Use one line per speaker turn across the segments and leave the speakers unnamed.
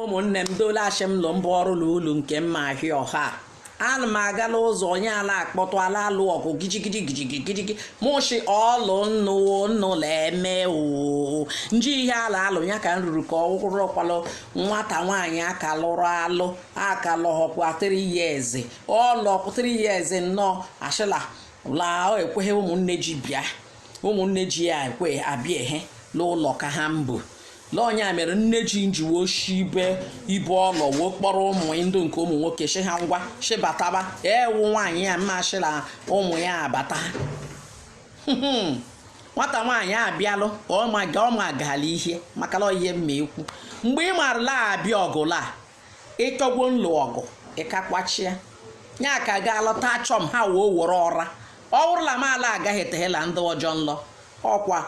ụmụnne m dole ashị m lụ mbụ ọrụ na ulu nke mma ahịa ọha ana m aga n'ụzọ onye ala akpọtụ ala alụ ọgụ gijigidi gijigi gijigi mụ shi ọlụ nnụ nnụ leme oo nji ihe ala alụ ya ka m ruru ka ọ rụkwalụ nwata nwaanyị aka lụrụ alụ aka lụhọkwa 3 years ọlọkwa 3 years nnọọ ashịla laa ọ ekweghị ụmụnne ji bịa ụmụnne ji ya ekwe abịa ehe n'ụlọ ka ha mbụ l'ọnya mere nne ji njiwe oshi ibe ibe ọ lọ wee kpọrọ ụmụ ndụ nke ụmụ nwoke shi ha ngwa shibataba ewu nwaanyị ya mma shila ụmụ ya abata nwata nwaanyị abịalụ ọma gaala ihe maka la ihe mma ekwu mgbe ị marala abịa ọgụla ịtọgwo nlụ ọgụ ịkakwachịa ya ka ga alọta achọ m ha wee were ọra ọ wụrụ la m ala agaghị etehela ndị ọjọọ nlọ ọkwa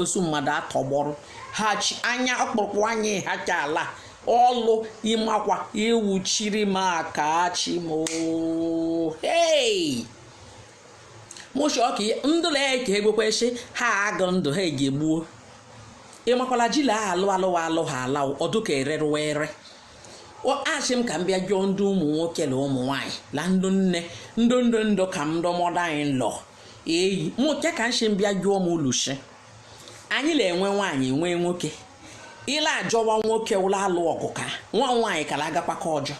ozu mmadụ atọgbọrọ ha chi anya ọkpụrụkpụ anya ha ka ala ọlụ ịmakwa iwuchiri m aka chi m oo. hey! mụ shi ọka ndụla ya ka egwekwesị ha agụ ndụ ha ga-egbuo ịmakwala ji la alụ ha ala ọ dụ ka ererụwa ere ashị m ka m bịa jụọ ndị ụmụ nwoke na ụmụ nwaanyị na ndụ nne ndụ ka m ndụmọdụ anyị lọ eyi mụke ka nshi m bịa jụọ ulu shi anyị na-enwe nwaanyị nwee nwoke ile ajọwa nwoke ụlọ alụ ọgụ ka nwa nwaanyị kara agakwa ka ọjọọ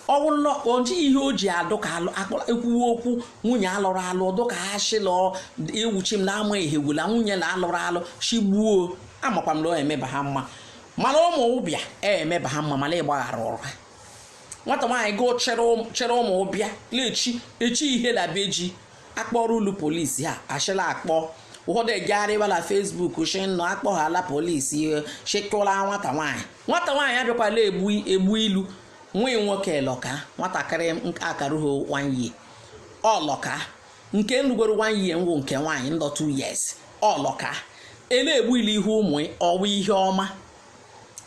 ọ wụrụ na ọ dịghị ihe o ji adụ ka alụ- akpọ- ekwuwe okwu nwunye alụrụ alụ ọ dụ ka ha shị la ewuchi m na-ama ihe gwula nwunye na alụrụ alụ shigbuo amakwa m na ọ emeba ha mma mana ụmụ ụbịa emeba ha mma mana ịgbaghara ụrụ ha nwata nwaanyị gụ chere ụm- chere ụmụ ụbịa lechi echi ihe na be ji akpọrọ ụlọ polisi ha ashị la akpọ ụfọdụ egegharịwa na Facebook shi nọ akpọghala polisi shekụla nwata nwaanyị Nwata nwaanyị abịakwa la egbu ilu nwa nwoke elọka nwatakịrị akarụghị one year ọlọka nke nrugoro one year nwụ nke nwaanyị nlọ two years ọlọka ele egbu ilu ihe ụmụ ọwa ihe ọma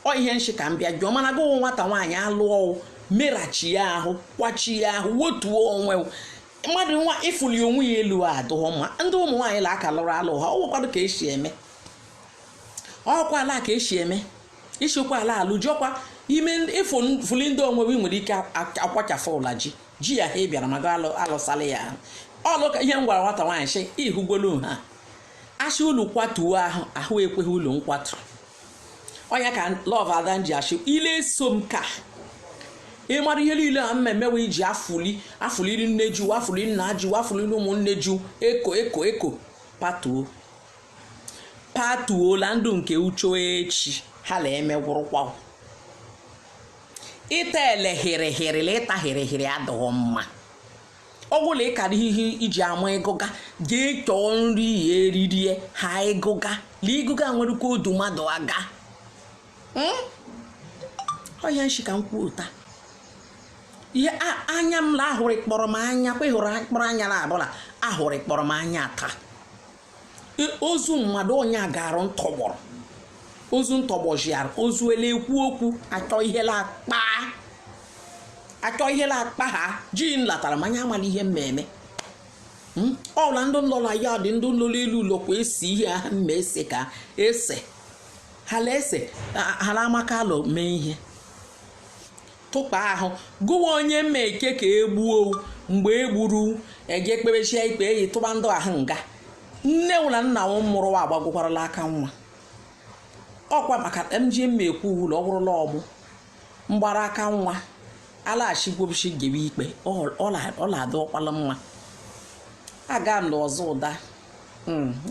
ọ ihe nshị ka m bịa jụọ mana gụ wụ nwata nwaanyị alụọ merachi ya ahụ kwachi ya ahụ wotuo onwe mmadụ nwa ịfụli onwe ya elu adụghọ mma ndị ụmụ nwaanyị la aka lụrụ alụ ha ọ nwekwado ka esi eme ọkwa ala ka esi eme isikwa ala alụ jọkwa ime ịfụli ndị onwe gị nwere ike akwachafụ ụla ji ya ha bịara mago alụsala ya ahụ ọlụ ka ihe m gwara nwata nwaanyị sị ihugolu ha asị ụlọ kwatuo ahụ ekweghị ụlọ nkwatu ọnya ka love ada ji ashị ile so m ka ị mara ihe niile a mmemme wee ji afụli afụliri nne ju afụli nna ju afụliri ụmụnne ju eko eko eko patuo patuola ndụ nke uche echi ha la emegwụrụkwa ịta ele hịrịhịrị la ịta hịrịhịrị adịghị mma ọ bụla ị kara ihe iji ama ịgụga jee chọọ nri ya eririe ha ịgụga la ịgụga nwerekwa odu mmadụ aga ọhịa nshi ka m kwuo ụta ihe anya m la ahụrụ kpọrọ m anya kwe hụrụ kpọrọ anya la abụla ahụrụ kpọrọ m anya taa ozu mmadụ onye a garụ ntọgbọrọ ozu ntọgbọjiara ozu ele ekwu okwu achọ ihela akpa achọ ihela akpa ha ji nlatara manya amala ihe mmemme hmm? ọla ndị nlọ la ya dị ndị nlọ la elu ụlọ kwa esi ihe ha mma ese ka ese hala ese hala amaka alọ mee ihe tụkpa ahụ gụwa onye mma eke ka e gbuo mgbe e gburu eje kpebechia ikpe eyi tụba ndụ ahụ nga nne wụ la nna wụ mụrụ wa agbagokwarala aka nwa ọkwa maka m ji mma ekwu ụlọ ọ bụrụla ọmụ mgbara aka nwa alaghachigwobichi gebe ikpe ọ la-adị ọkwala mma aga m ọzọ ụda